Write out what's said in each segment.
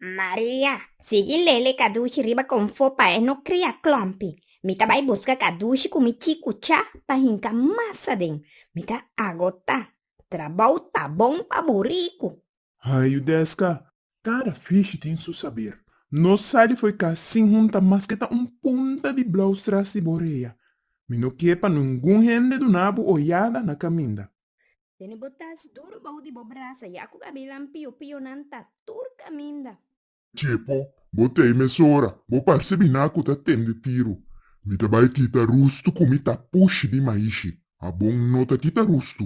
Maria, sigui lele kadushi riba konfó pa e no kria klòmpi. Mi ta bai buska kadushi ku mi chi kuchá pa hinka mas aden. Mi ta agotá. Trabou ta bon pa buriku. Hayu deska, Kada fishi tin su saber. No sali fo'i cas sin hunta mas ke ta un punta di blous tras di bo rea. Mi no kier pa nungun hende duna bo oyada na caminda. Tene bo tas duru bou di bo brasa ya cu gabilan pio pionan ta tur caminda. Chepo, bo t'ei mesora. Bo parce bina cu ta tende tiru. Mi ta bai kita rustu cu mi ta pushi di maishi. A bon no ta kita rustu.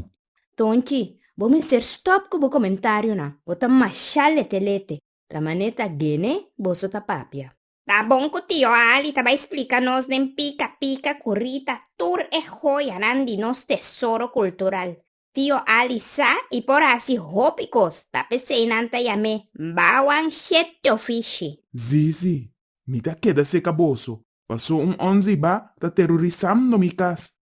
Tonchi, bo mester stop ku bo komentarionan, bo ta masha lete lete. La mané ta Gene boso ta papia. Ta bon ku tio Ali ta bai splika nos den pika pika ku rita tur e hoyanan di nos tesoro kultural. Tio Ali sa i por hasi hopi kos, ta p'esei nan ta yam'é Bawan Shetyofishi. Zizi, mi ta keda seka boso, paso un onzi ba ta terorisam no mi kas,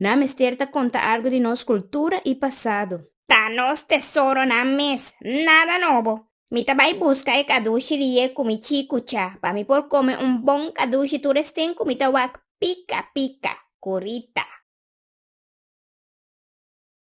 Nan a mester ta conta algo di nos cultura y pasado. Ta nos tesoronan mes, nada nobo. Mi ta bay busca e cadushi di ye cu mi chi cucha, pa mi por come un bon cadushi tur esten cu mi ta wak pica pica, curita.